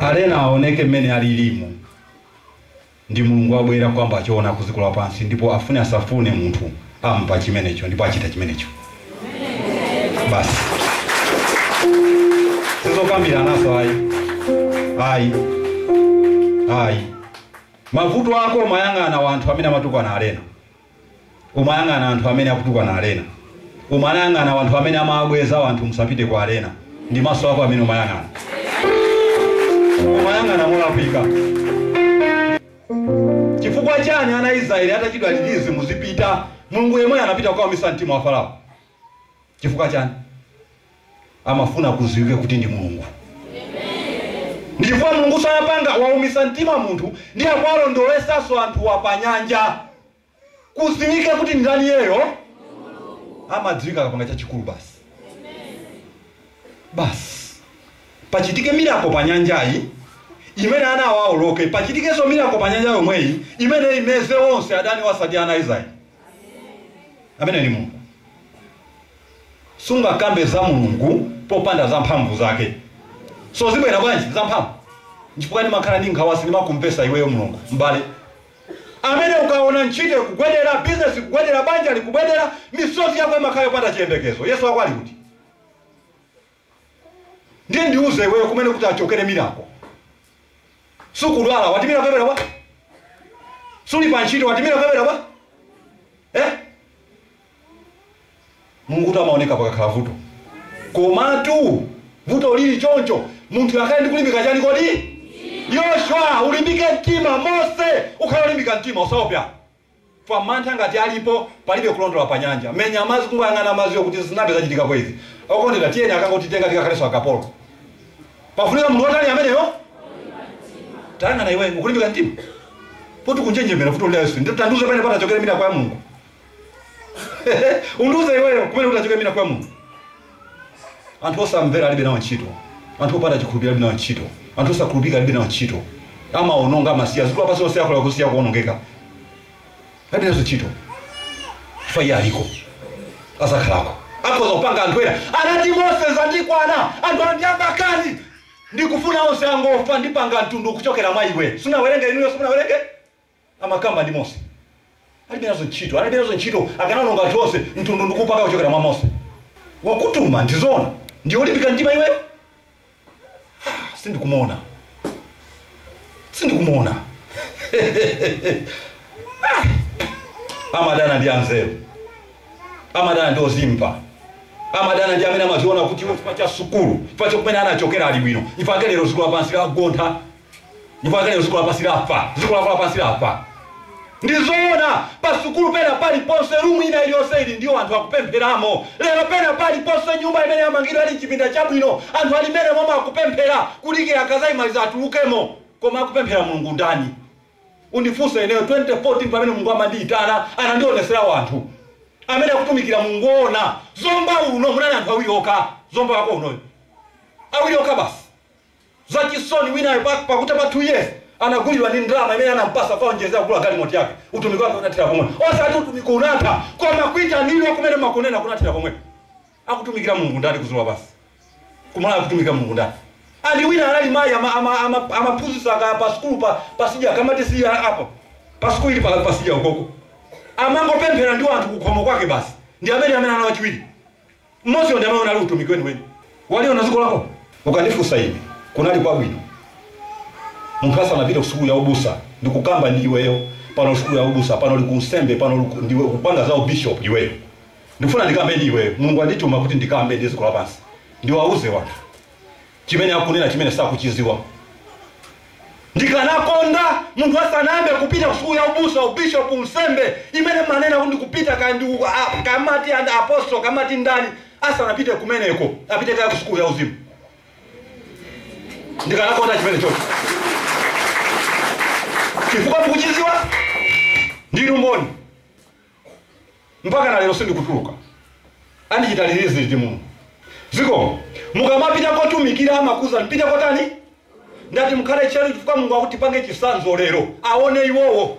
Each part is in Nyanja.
Arena aoneke mmene alilimu ndi Mulungu abwera kukamba choona kudziko lapansi ndipo afune asafune munthu amva chimenecho ndipo achita chimenecho basi sizokambiranaso ayi ayi ayi mavuto ako umayang'ana wanthu amene amatukwana Arena umayang'ana anthu amene akutukwana arena umayang'ana wanthu amene amawabweza wanthu musapite kwa arena ndi maso ako amene umayang'ana umayang'ana molakwika chifukwa chani ana israeli atauzidwa kuti muzipita mulungu yemweyo anapita kukaumitsa mtima wa farao Chifukwa chani? Amafuna kudziwike kuti ndi Mulungu. Ndi chifukwa Mulunguso anapanga waumitsa mtima munthu ndiye akuwalondolesanso anthuwa pa nyanja. Kudziwike kuti ndi ndani iyeyo? Amadziwika akapanga chachikulu basi. Basi. Pachitike miracle pa nyanjayi imene ana awa awoloke, pachitikenso miracle pa nyanja yomweyi imene imeze onse adaniwo osati ana a Israeli. Ameneyo ndi Mulungu. Sungakambe za Mulungu popanda za mphamvu zake. So zibwera bwanji za mphamvu? Nchifukwa ndimakhala ndi nkhawa sindimakumvesa iweyo Mulungu, m'bale. Amene ukaona ntchito ikugwedera, business ikugwedera, banja likugwedera, misozi yako imakhala yopanda chiyembekezo. Yesu wako ali kuti? ndiye ndiuze iweyo kumene kuti kuchokere mirako sukudwala wati mirako yabwera bwa suli pa ntchito wati mirako yabwera bwa eh? mulungu kuti amaoneka pakakhala vuto komatu vuto lili choncho munthu akhale ndi kulimbika chani kodi yoshua ulimbike mtima mose ukhala ulimbika mtima usaope Wa mantha ngati alipo palibe kuoloka pa nyanja. Menya madzi kungoyang'ana madziwo kuti sizinayambe zachitikapo izi. Okondedwa tiyeni akangotitenga tikakhalenso akapolo. Pafunika munthu wotani ameneyo? Tayang'ana iweyo ukulimbika mtima? Poti ukunjenjemera vuto lina lililonse. Tandiuze pamene patachokere mirako ya Mulungu. Undiuze iweyo kumene kutachokere mirako ya Mulungu. Anthu osamvera alibe nawo ntchito. Anthu opanda chikhulupiriro alibe nawo ntchito. Anthu osakhulupirika alibe nawo ntchito. Amawononga, amasiya. Dziko lapansi lonse akhoza kusiya kuwonongeka. Alibe nazo ntchito. Chifukwa iye aliko. Azakhalako. Akhoza kupanga anthu ena. Anati Mose zandikwana. Anthu awa ndi amakani. Ndikufuna onse angofa. Ndipanga mtundu kuchokera mwa iwe. Sunawerenge inuyo, simunawerenge? amakamba ndi Mose. Alibe nazo ntchito. Analibe nazo ntchito. Akanaononga anthu onse, mtundu ndi kuupanga kuchokera mwa Mose. Wakutuma, ndi zoona. Ndiye olimbika mtima iweyo? Ah, sindikumuona. Sindikumuona. ah! Amadana ndi anzeru. Amadana ndi ozimva. Amadana ndi amene amaziona kuti iwe chifukwa cha sukulu, chifukwa cha kumene anachokera ali bwino. Ife akuti lero ziko lapansi lagontha. ndipo akanena dziko lapansi lafa dziko lafa lapansi lafa ndizoona pasukulu pena paliponse rumu ina iliyonse ili ndiwo anthu akupempheramo lero pena paliponse nyumba imene yamangidwa ali mchipinda chabwino anthu ali mmene momwe akupemphera kudikira akazayimaliza atulukemo koma akupemphera mulungu ndani undifunse ineyo 2014 pamene mulungu amandiyitana anandionesera wanthu amene akutumikira mulungu woona zomba uno munali anthu awiri okha zomba wako unoyo awiri okha basi Zachisoni, winayo pa pakutha pa 2 years anagulidwa ndi ndalama imene anampasa kukaonjezera kugula galimoti yake. Utumiki wake unathera pomwe. Osati utumiki unatha, koma kuitanidwa kumene mmakunena kunathera pomwepo. Akutumikira Mulungu ndani kudziko lapansi? Ku Malawi akutumikira Mulungu ndani? And wina anali mayi ama ama ama amaphunzitsa kaya pa sukulu pa pasidya kamati chiyani apa pa sukulu ili pa pasidya ukoko. Amangopemphera ndi wanthu kukhomo kwake basi. Ndi amene amene ana wachiwiri. Mmodziyo ndi amene anali utumiki weniweni. Waliona dziko lako? Ukandifunsa ine, kunali kwabwino munthu asanapite kusukulu ya ubusa ndikukamba ndi iweyo pano sukulu ya ubusa, pano uli ku unsembe, pano uli ku, ndiwe ukupanga za u bishop iweyo. Ndikufuna ndikambe ndi iweyo. Mulungu wandituma kuti ndikambe ndi dziko lapansi, ndiwauze wanthu. chimene akunena chimene sakuchiziwa ndikanakonda munthu asanayambe kupita kusukulu ya ubusa ubishop unsembe imene manena kuti kupita kaya ndi uko- a- kamati an apostle kamati ndani asanapite kumeneko apite kaya kusukulu ya uzimu ndikanakonda chimene chocho chifukwa mukuchiziwa ndinu mboni mpakana lero sindikutuluka andichita release liti mulungu zikomo mukamapita kotumikira amakuuza mpite kotani ndati mukhale tcheru chifukwa mulungu akuti mpange chisanzo lero aone iwowo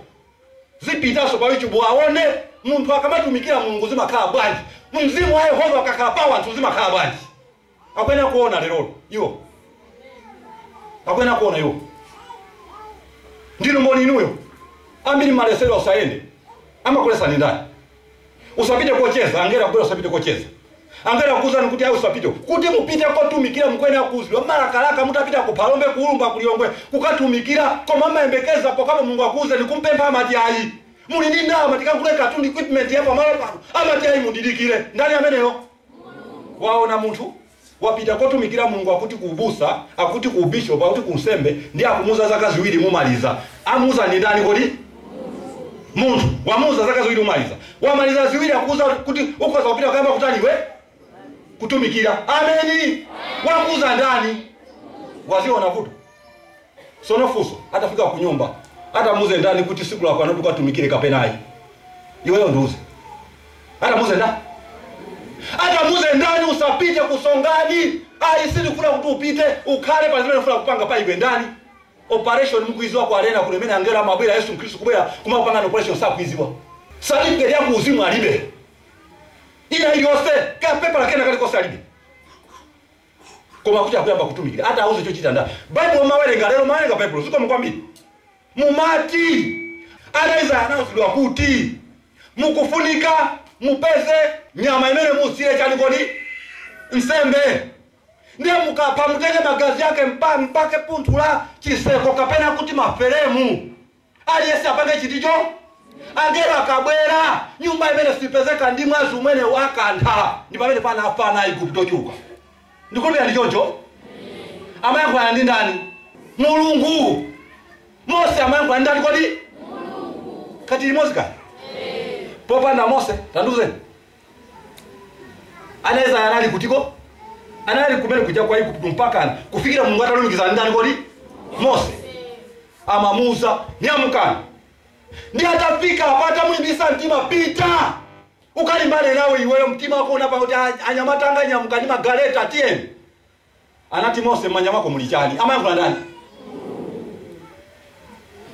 zipitaso pa youtube aone munthu akamatumikira mulungu zimakhala bwanji mzimu wa yehova akakhala pa wanthu zimakhala bwanji akuyenera kuona lerolo iwo akuyenera kuona iwo ndinu mboni inuyo ambiri malesedwa usayende amakulesani ndani usapite kocheza angelo kubwera usapite kocheza angelo kuuzani kuti ayi usapite kuti mupite kotumikira mukuyenera kuuzidwa malakalaka mutapita ku phalombe ku Ulumba kulilongwe kukatumikira koma amayembekeza pokhapo mulungu akuuzeni kumpempha amati ayi muli ndi ndalama tikagule katundu equipment ya pamalo pano amati ayi mundidikire ndani ameneyo waona munthu wapita kukatumikira mulungu akuti ku ubusa akuti ku ubishop akuti ku unsembe ndiye akumuuza zaka ziwiri mumaliza amuuza ndi ndani kodi munthu wamuuza zaka ziwiri mumaliza wamaliza ziwiri akuuza kuti ukhoza kupita kuyamba kutaniwe kutumikira ameni wakuuza ndani waziona vuto Tsono funso atafika kunyumba atamuuze ndani kuti tsiku lakwana loti ukatumikire kapena ayi iweyo ndiuze atamuuze ndani atamuuze ndani usapite kumsonkhano ayi tsiku loti upite ukhale pa zimene ufuna kupanga pa iwe ndani operation mukuidziwa kwa lena kuno imene angelo amabwera yesu mkhristu kubwera kumakupanga operation sakuidziwa certificate ya kuuzimu alibe ina iliyonse kapepala kena kalikonse alibe koma kuti akuyamba kutumikira atamuuze chochita ndani baibulo mumawerenga lero mumawerenga baibulo zikomo kwambiri mumati ana israel anauzidwa kuti mukufunika mupeze nyama imene muchitire chani kodi nsembe ndiye mukapha mutenge magazi ake mupake phuthu la chiseko kapena kuti maferemu Aliyense apange chiticho? Angelo akabwera, nyumba imene sipezeka ndi mwazi umenewu akantha. Ndi pamene panafa ana a Igupto ochuluka. Ndikhulupirira ndi choncho. Amayankhulana ndi ndani? Mulungu. Mose amayankhulana ndi ndani kodi? Mulungu. Kaya tili limodzi kani? Popanda Mose, tandiuzeni. ana israeli anali kutiko anali kumene kuja ku igupto mpakana kufikira mulungu atalumikiza ndani kodi mose amawauza nyamukani ndiye atafika apa atamulimbisa mtima pita ukalimbane naye iweyo mtima wako unatha kuti "Ah, anyamatanga nyamukani magaleta tiyeni anati mose m'manja mwako muli chani amayankhula ndani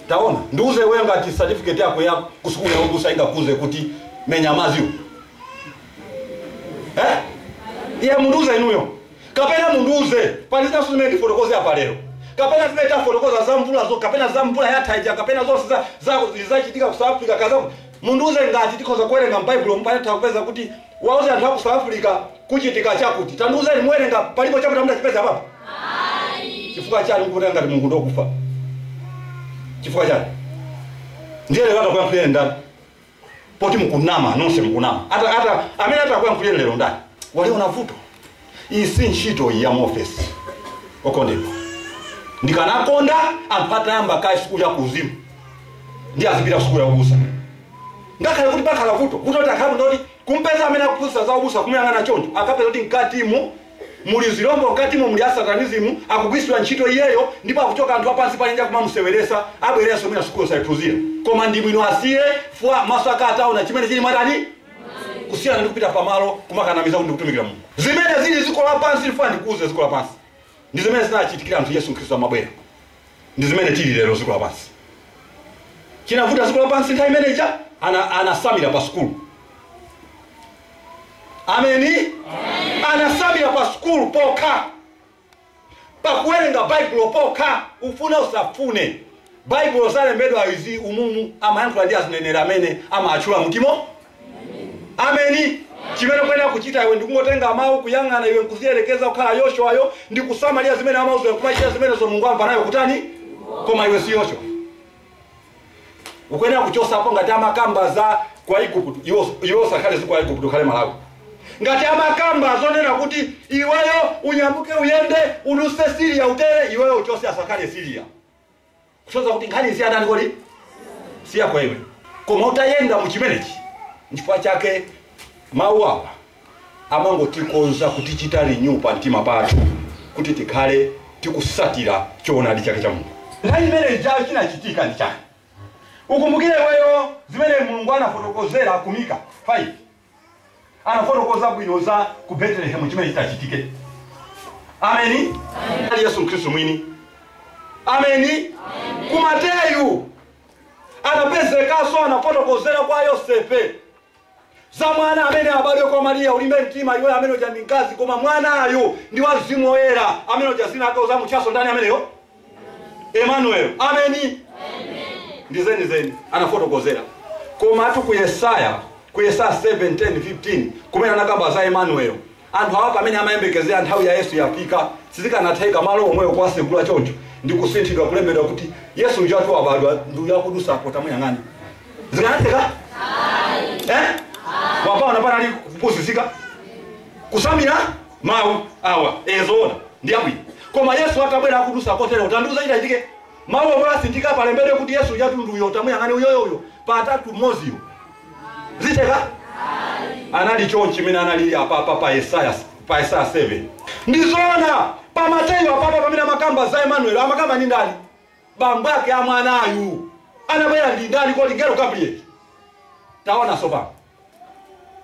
taona ndiuze iweyo ngati certificate yako ya kusukulu ya ubusa ingakuuze kuti menya madziwo eh? iye mundiuze inuyo kapena mundiuze pali vesi imene ndifotokoze apa lero kapena zimene tafotokoza za mvulazo kapena za mvula yathaija kapena zonse za- za- zachitika ku south africa kaza mundiuze ngati tikhoza kuwerenga m'baibulo mpaka kupeza kuti Kuwauza anthu aku South Africa kuchitika chakuti. Tandiuzeni muwerenga palipo chakuti simudachipeza apapo? Ayi. Chifukwa chani mukutenga ngati Mulungu ndokufa? Chifukwa chani? Ndiye lero atakuyankhuleni ndani? Poti mukunama nonse mukunama. Ata ata amene atakuyankhuleni lero ndani? Waliona vuto. Iyi si ntchito iyi ya mu ofesi okondedwa. Ndikanakonda anthu atayamba kaye sukulu ya kuuzimu ndiye azipita ku sukulu ya ubusa. Ngakhale kuti pakhala vuto, vuto kuti akakhala munthu woti kumpeza amene akuphunzitsa za ubusa kumuyang'ana choncho akapeza kuti mkatimu muli zilombo mkatimu muli asatanism akugwiritsidwa ntchito iyeyo ndipo akuchoka anthu apansi pa nyanja kumamuseweretsa abwerenso mwina sukulu sanaiphunzire koma ndi bwino asiye chifukwa maso ake ataona chimene chili mkati kusiyana ndi kupita pamalo kumakanamiza ndi kutumikira mulungu zimene zili dziko lapansi ndifuna ndikuuze dziko lapansi ndi zimene zinachitikira anthu yesu khristu amabwera ndi zimene tili lero dziko lapansi chinavuta dziko lapansi nthawi imeneja ana- anasamira pa sukulu ameni anasamira pa sukulu pokha pakuwerenga baibulo pokha ufune usafune baibulo zalembedwa izi umumu amayankhula ndi azinenera amene amaatchula mutimo ameni chimene kuyenera kuchita iwe ndikungotenga mawu kuyang'ana iwe nkuziyerekeza kukhala yoshuayo ndi kusamalira zimene amauza kumachita zimenezo mulungu amvana nayo kutani koma iwe si yoshuayo ukuyenera kuchosapo ngati amakamba za ku aigupto iwo iwo usakhale ziko aigupto ukhale malawi ngati amakamba zonena kuti iweyo unyamuke uyende uduse siriya utere iweyo uchose asakhale siriya kuchoza kuti nkhani si ya ndani kodi siyako iwe koma utayenda mu chimenechi nchifukwa chake mawu awa amangotikonza kutichita renew pa mtima pathu kuti tikhale tikutsatira choonadi chake cha Mulungu. Nthawi imene ijayo chinachitika ndi chani? Ukumbukire iweyo zimene Mulungu anafotokozera ku Mika 5. Anafotokoza bwino za ku Betelehemu chimene chitachitike. Ameni. Ali Yesu Khristu mwini. Ameni. Ku Mateyu anapezekanso anafotokozera kwa Yosefe za mwana amene abadwe kwa mariya ulimbe mtima iwe amene uja ndi mkazi koma mwanayo ndi wa mzimu woyera amene uja dzina lake uzamutchanso ndani ameneyo emanuel ameni ndi zeni zeni anafotokozera komatu ku yesaya ku yesaya 7 10 15 kumene anakamba za emanuel anthu awa pamene amayembekezera nthawi ya yesu yafika sizikanatheka malo omwewo kuwasegula choncho ndi kusinthidwa kulembedwa kuti yesu ujatu wabadwa ndi uyo akudutsa apo tamuyang'ani zikanatheka eh? wapaona panali kupusitsika kusamira mawu awa e zoona ndi abwino koma yesu atabwera akudutsa kotero utandiuza chitachitike mawu omwe asinthika palembedwe kuti yesu ujatu ndi uyo tamuyang'ani uyoyo uyo patatu mmoziyo zitheka anali chonchi mmene analili apapa pa yesaya pa yesaya 7 ndizoona pa mateyu apapa pamene amakamba za emanueli amakamba ndi ndani bambo ake a mwanayu anabwera ndi ndani kodi mngelo gabrieli taona sopano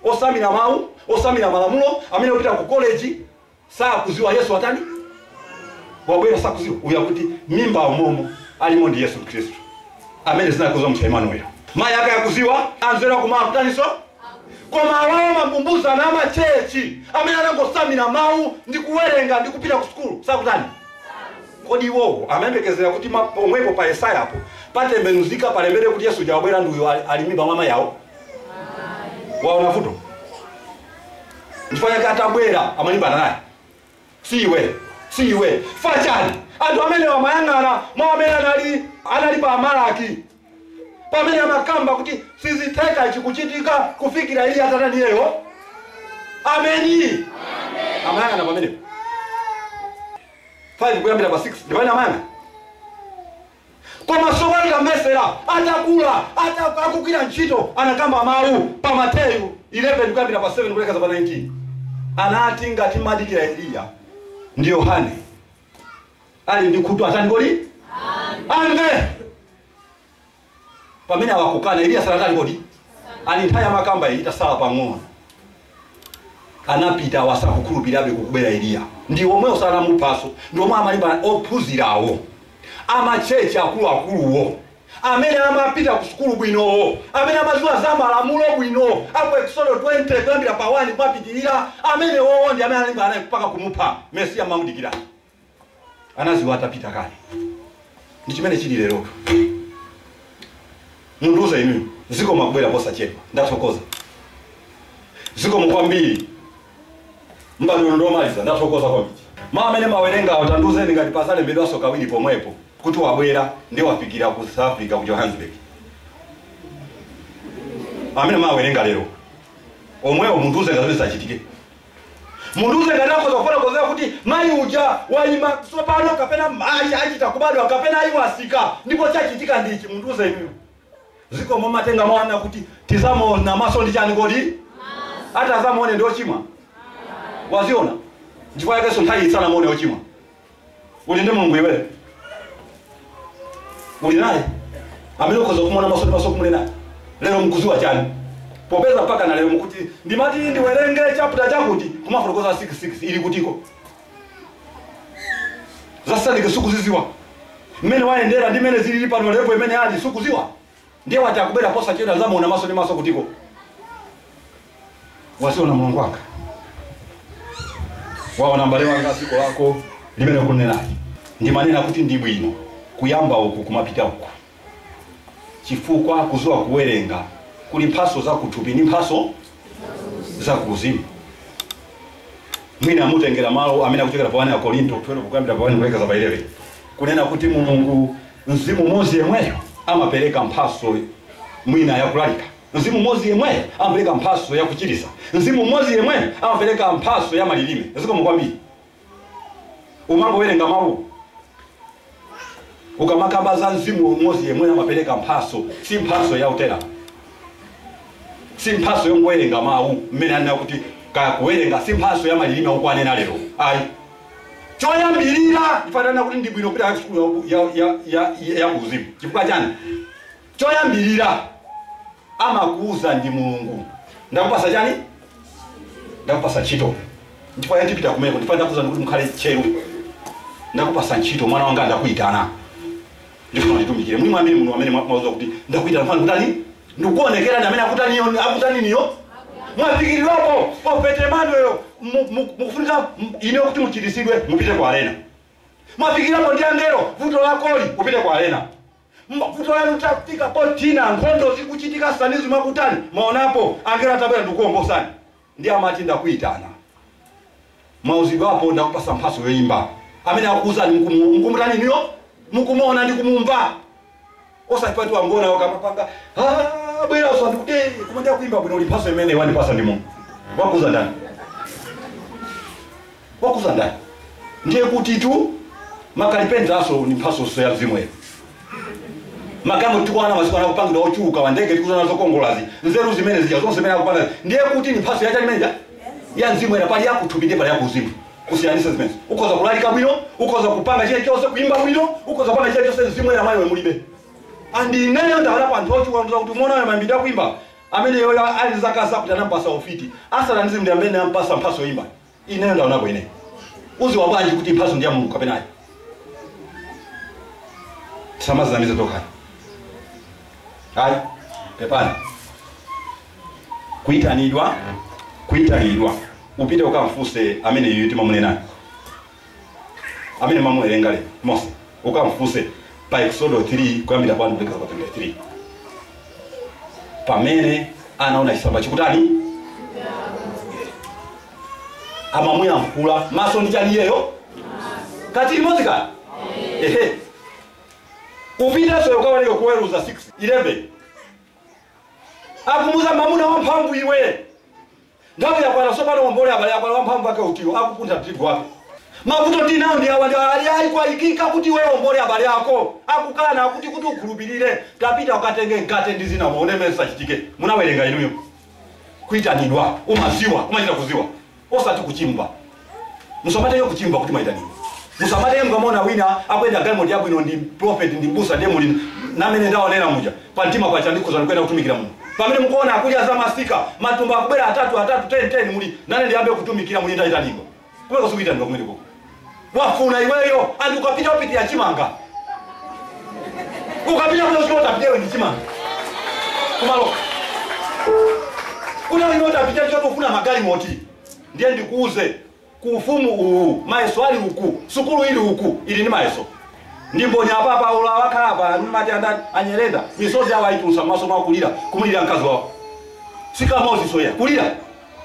osamira mawu osamira malamulo amene opita ku koleji Sakudziwa Yesu watani? Wabwera sakudziwa. Uyu akuti m'mimba umomo alimo ndi Yesu Khristu. Amene dzina kudzamutcha Emmanuel. Mai ake akudziwa anzeru kum'mawa akutaninso? Koma awawa ma abusa na amachechi. Amene anangotsamira mau ndi kuwerenga ndi kupita ku sukulu. Sakutani? Kodi iwowo amayembekezera kuti ma- pomwepo pa Yesaya apo patembenuzika palembere kuti Yesu uja wabwera ndi uyo ali ali m'mimba mwa mai awo? Waona vuto? chifukwa chake atabwera amalimbana naye si iwe si iwe chifukwa chani anthu amene amayang'ana mwa amene anali anali pa Malaki pamene amakamba kuti sizitheka ichi kuchitika kufikira Eliya atatani iyeyo ameni amayang'ana pamenepo 5 kuyambira pa 6 ndipamene amayang'ana Koma tsopano tamvetsera, atakula, akugwira ntchito, anakamba mau pa Mateyu 11 kuyambira pa 7 kulekeza pa 19. Anati ngati madikira Eliya ndi Yohane ali ndi khutu atani kodi amve pamene awakukana Eliya sanatani kodi ali nthawi amakambayi itasala pang'ono anapita awo sakukhulupirirabe kuti kubwera eliya ndi omwewo anamuphanso ndi omwe amalimba ophunzirawo amachechi akuluakuluwo amene amapita ku sukulu bwinowo amene amadziwa za malamulo bwino aku eksodo 20 kuyambira pa 1 kumapitirira amenewowo ndi amene analimbana naye mpaka kumupha mesiya amamudikira anadziwa atapita kale ndi chimene chili lerotu mundiuze inuyo zikomo kubwera posachedwa ndathokoza zikomo kwambiri mbale uno ndomaliza ndathokoza kwambiri ma amene mawerengawo tandiuzeni ngati pazalembedwanso kawiri pomwepo kuti wabwera ndi wafikira ku south africa ku johannesburg amene mawerenga lero omwewo mundiuze ngati zimene zachitike mundiuze ngati akhoza kufotokozera kuti mayi uja wayima tsopano kapena mayi achita kubadwa kapena ayi watsika ndipo chachitika ndichi mundiuze inuyo zikomo mumatenga mwana kuti tidzamuona maso ndi chani kodi atadzamuone ndi ochimwa waziona nchifukwa yakenso inu simunamuone ochimwa uli ndi mulungu iweyo uli naye amene ukhoza kumuona maso ndi maso kumule naye lero nkudziwa chani popeza mpaka na lero mukuti ndimati ndiwerenge chapter chakuti kumafotokoza 66 ili kutiko zaka ziti sukuzidziwa mmene wayendera ndi mmene zilili pano levo imene ali sukudziwa Ndiye wati akubwera posachedwa azamuona maso ndi maso kuti ko. Waziona Mulungu wanga. Waona mbale wanga dziko lako limene ukunenali. Ndimanena kuti ndi bwino kuyamba uku kumapita uku. Chifukwa kuziwa kuwerenga kuli mphaso za kuthupi ndi mphaso za kuuzimu. Mwina mutengera malo amene akuchokera pa 1 Akorinto 12 kuyambira pa 1 kulekeza pa 11. Kunena kuti Mulungu Mzimu umodzi yemweyo amapereka mphatso mwina yakulalika. Mzimu umodzi yemweyo amapereka mphatso yakuchiritsa. Mzimu umodzi yemweyo amapereka mphatso ya malilime. Zikomo kwambiri. Umangowerenga mawu ukamakamba za mzimu umodzi yemweyo amapereka mphatso, si mphatso ya utera, si mphatso yongowerenga mawu mmene anena kuti kaya kuwerenga, si mphatso ya malilime ukunena lero ayi. choyambirira ndifuna ndinene kuti ndi bwino kupita sukulu ya uku- ya- ya- ya- ya- ya kuuzimu chifukwa chani choyambirira amakuuza ndi mulungu ndakupasa chani ndakupasa ntchito ndipo atipita kumeneko ndipo ndakuza kuti mukhale tcheru ndakupasa ntchito mwana wanga ndakuyitana ndifuna nditumikire muli mwa amene muno amene mwa- mwauza kuti ndakuitana mwana kutani ndikuonekera ndi amene akutaniyo akutaniniyo mwafikirirwapo profeti Manuel mukufunika mu- ine kuti muchiritsidwe mupite kwa arena mwafikirapo ndi angelo vuto lakoli upite kwa arena M- vuto lanu tafika potina nkhondo zikuchitika sanizi mwakutani mwamuonapo mngelo atabwera ndikuwombolani Ndiye amati, Ndakuitana. Mwauzidwapo, ndakupatsa mphatso yoimba. Amene akukuuzani mukumuo, mukumutani inuyo? Mukumuona ndi kumumva. Osati pati wangona ukamapanga, abweranso anthu kuti, "Eh, koma ndiye akuimba bwino ndi mphatso imene wandipatsa ndi Mulungu. Wakuuza ndani? wakuuza ndani ndiye kutitu makalipentalanso ni mphasonso ya mzimu oyera magalimoto tikuona masiku ano kupangidwa ochuluka ma ndege tikuziona zokongolazi nzeru zimene zija zonse zimene akupanga ndiye kuti ni mphaso yachani imene ija ya mzimu oyera pali yakutupi ndiye pali yakuzimu kusiyanisa zimene ukhoza kulalika bwino ukhoza kupanga chilichonse kuimba bwino ukhoza kupanga chilichonse mzimu oyera mwa iwe mulibe andi ineyo ndawaonapo anthu ochuluka ndiuza kuti mukumuona uyo amaimba kuimba ameneyoyo ali zaka zakuti anampasa ufiti asatanizi ndi amene ampasa mphaso yoimba ineyo ndaonako ine uziwa bwanji kuti mphaso ndi ya mulungu kapena ayi tisamazinamize tokhani ayi pepani kuyitanidwa kuyitanidwa upite ukamfuse ameneyu timamunenayo amene mwamuwerenga lero mose ukamfunse pa eksodo 3 kuyambira kwa kulekeza kwa 23 pamene anaona chisamba chikutani amamuyankhula maso ndi chani iyeyo kati limodzi kani ehe upiteso ukawerenge ku oweruza 6 11 akumuuza mamuna wamphamvu iwe Nthawi yakwana tsopano uombole abale yakwana wamphamvu ake utiyo akupuntha tirigu wake. Mavuto ndinawo ndi awa ndi ali ayi kwayikika kuti iwe uombole abale ako akukana akuti kuti ukhulupirire tapita ukatenge mkate ndi zina muone mmene zitachitike munawerenga inuyo kuitanidwa umaziwa umachita kuziwa osati kuchimva musamatenge kuchimva kuti mwaitanidwa musamati mukamuona wina akuyenda galimoto yabwino ndi prophet ndi mbusa ndiye muli namene ndaonera muja pa mtima pacha ndikhoza kuyenda kutumikira Mulungu pamene mukuona akudya za masika matumba akubwera atatu atatu 10 10 muli nane ndiyambe kutumikira muli ndaitanidwa kumeneko sikuitanidwa kumeneko wafuna iweyo andi ukapita upitira chimanga ukapita kule usiku utapitia wewe ndi chimanga kumalo kuna wewe utapitia choto kufuna magalimoto Ndiye ndikuuze, ku ufumu uwu, mayeso ali uku, sukulu ili uku, ili ndi mayeso. Ndi mboni apa, Paulo awakhala apa, ndimati andani, a Nyirenda, misozi yawo ayitulusa m'maso mwa kulira, kumulira mkazi wawo. Sikamozi soya, kulira.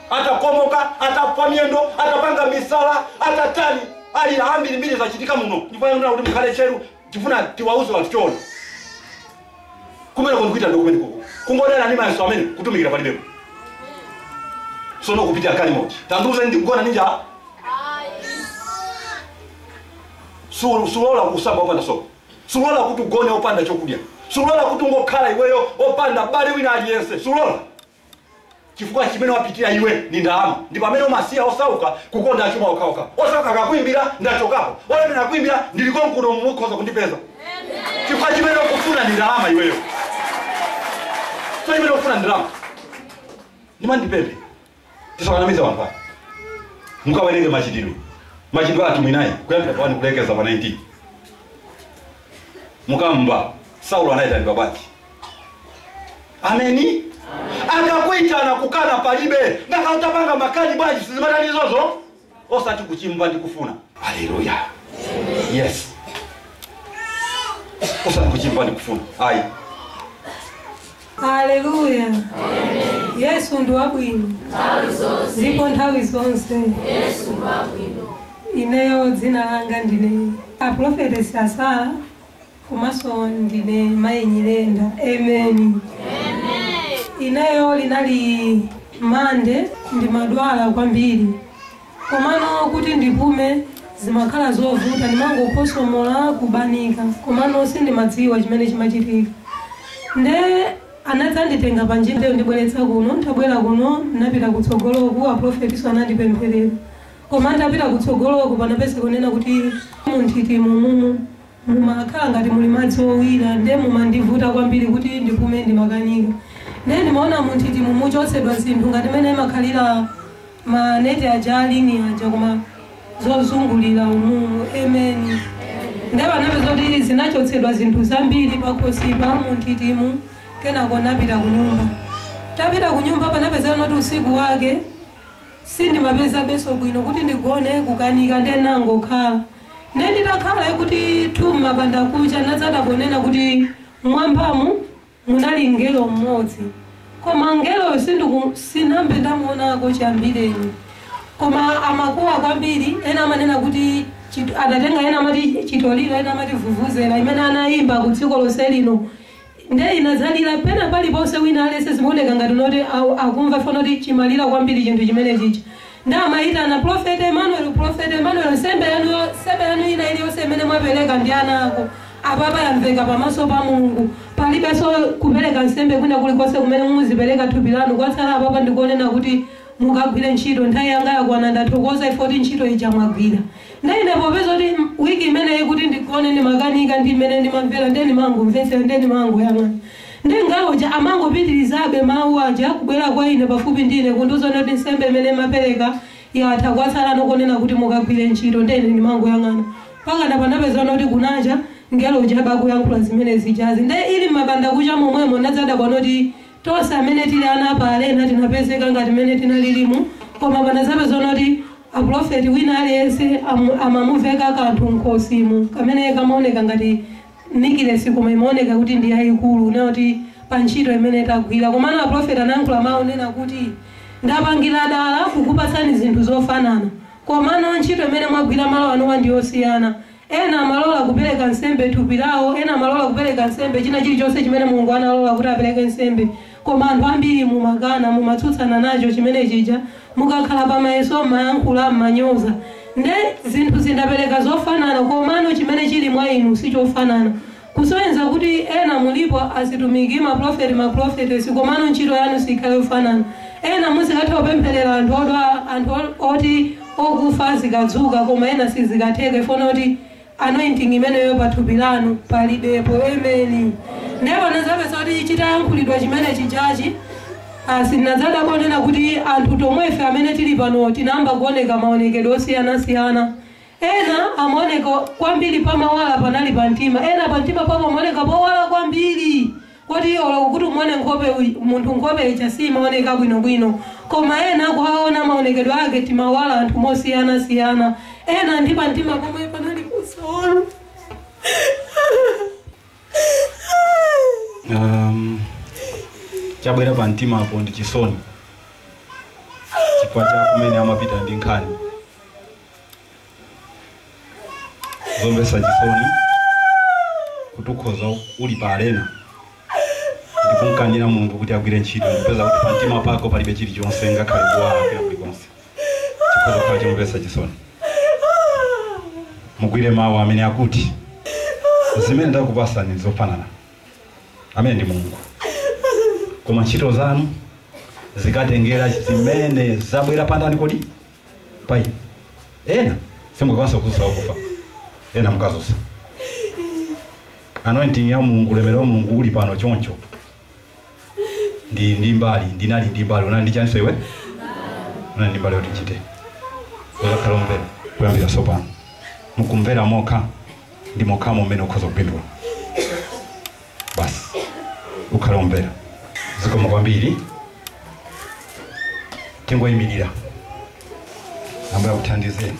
Atakomoka, atapwa miyendo, atapanga misala, atatani, alira ambirimbiri zachitika muno. Ndipo yang'ana kuti mukhale tcheru, tifuna tiwauze wanthu choona kumeneko ndikuitanidwa kumeneko kungodana ndi mayeso amene kutumikira palibepo sono kupitira galimoto tandiuzeni ndikugona ni njala sulola kusamba opanda sopo sulola kuti ugone opanda chokudya sulola kuti ungokhala iweyo opanda m'bale wina aliyense sulola chifukwa chimene wapitira iwe ndi ndalama ndi pamene umasiya osauka kukonda achuma okhaokha osauka akakuimbira ndachokapo olemera akuimbira ndilikonkuno mukhoza kundipeza chifukwa chimene ukufuna ndi ndalama iweyo chifukwa chimene ukufuna ndi ndalama ndimandipembe tisawanamize wanthu ake mukawerenge machitidwe machitidwe atumwi 9 kuyambira pa wani kulekeza pa 19 mukamva saulo anayitanidwa bwanji ameni akakuitana kukana palibe ngakhale utapanga makani bwanji sizimatani izozo osati kuchimva ndi kufuna haleluya yes osati kuchimva ndi kufuna ayi Haleluya. Yesu ndi wabwino. Ndipo nthawi zonse. Ineyo dzina langa ndine Aprofetesi Asala komanso ndine mayi nyirenda amen ineyo linali mande ndimadwala kwambiri komano kuti ndipume zimakhala zovuta ndimangokhosomola kubanika komano sindimadziwa chimene chimachitika nde anadzanditenga pa njira ndibweretsa kuno ntabwera kuno napita kutsogoloku aprofetiso anandipempherera koma ntapita kutsogoloku panapeza kunena kuti munthiti mumumu Mumakhala ngati muli madzi owira nde mumandivuta kwambiri kuti ndipume ndimakanika nde ndimaona munthitimu muchotsedwa zinthu ngati mene imakhalira ma net aja a ling'i aja koma zozungulira umumu amen nde panapeza kuti zinachotsedwa zinthu zambiri pakhosipa munthitimu kenako napita kunyumba tapita kunyumba panapezeka noti usiku wake sindimapezabenso bwino kuti ndigone kukanika nde nangokhala Nde nditakhala kuti thu m'mabandakucha nadzadabwa kunena kuti m'mwambamu munali mngelo m'modzi koma mngeloyo sindiku sinambe ndamuonako chiyambireni koma amakuwa kwambiri ena amanena kuti chit adatenga ena amati chitoliro ena amati vuvuzela imene anayimba ku dziko lonse lino Nde inadzalira pena paliponse wina alese zimaoneka ngati noti au- akumva fo noti chimalira kwambiri chinthu chimene chichi nde amayitana prophet emmanuel prophet emmanuel nsembe yanu yo- nsembe yanu ina iliyonse imene mwapereka ndi ana ako apapa yamveka pamaso pa mulungu palibenso kupereka nsembe kwina kulikonse kumene muzipereka thupi lanu kwatsala apapa ndi konena kuti mukagwire ntchito nthawi yanga yakwana ndathokoza ifoti ntchito ija mwagwira Nde ine popeza kuti week imeneyi kuti ndigone ndimakanika ndi mmene ndimamvera nde ndimangomvetsera nde ndimangoyang'ana nde mngelo uja amangopitirizabe mawu aja kubwera kwa ine pafupi ndi ine kundiuza kuti nsembe imene mwapereka yatha kwatsalano konena kuti mukagwire ntchito nde ine ndimangoyang'ana mpakana panapeza kuti kunacha mngelo uja abe akuyankhula zimene zijazi nde ili m'mabandakucha momwemo ndinadzadabwa kuti Tonse amene tili ana a pa Arena tinapezeka ngati mmene tinalilimu koma panadzapeza kuti a pulofeti wina aliyense am, amamuveka kanthu mkhosimu kamene kamaoneka ngati nikilesi koma imaoneka kuti ndi yayikulu na kuti pa ntchito imene tagwira komano a pulofeti anayankhula mawu onena kuti ndapangira dala kukupatsani zinthu zofanana komano ntchito imene mwagwira malo anuwa ndi yosiyana Ena amalola kupereka nsembe thupi lawo, ena amalola kupereka nsembe china chilichonse chimene Mulungu analola kuti apereke nsembe. Koma anthu ambiri mumakana, mumatsutsana nacho chimene chija, mukakhala pa mayeso mmayankhula, mmanyoza. Nde zinthuzi ndapereka zofanana komano chimene chili mwa inu sichofanana. Kusonyeza kuti ena mulipo atumiki, ma pulofeti, ma pulofetesi komano ntchito yanu sikhale yofanana. Ena muzikatha kupemphelera anthu odwala, anthu oti okufa azikadzuka koma ena sizikatheka chifukwa choti anointing imeneyo pa thupi lanu palibepo. Ameni. Ndiye tinazapeza kuti chitayankhulidwa chimene chijachi, basi tinadzayamba kuona kuti anthu tonsefe amene tili pano tinayamba kuoneka maonekedwe osiyana siyana. Ena amaoneka kwambiri pamawala panali pa mtima, ena pa mtima pawo pamaoneka powala kwambiri koti olo kuti umuone nkhope uyi- munthu nkhope ija simaoneka bwinobwino koma ena kuwaona maonekedwe ake timawala anthu mosiyanasiyana ena ndi pa mtima pomwe panali kusawala um, chabwera pa mtima apo ndi chisoni chifukwa cha kumene amapita ndi nkhani zomvetsa chisoni kuti ukhoza uli pa arena ndikumkanira mulungu kuti agwire ntchito ndikupeza kuti pamtima pako palibe chilichonse ngakhale kuwala kwina kulikonse chikhoza kukhala chomvetsa chisoni mugwire mawu amene akuti zimene ndakupasani nzofanana ameneyo ndi mulungu koma ntchito zanu zikatengera zimene zabwera pandani kodi pa iye ena simukakwanisa kuzusa wakufa ena mukazusa anointing ya mulungu ulemerero wa mulungu uli pano choncho ndi ndi mbali ndinali ndi mbali unali ndi chaniso iwe unali ndi mbali yoti uchite uzakhala omvera kuyambira sopano mukumvera mokha ndi mokhamo mmene ukhoza kupindula basi ukhale omvera zikomo kwambiri tingoyimirira ambuye akuthandizeni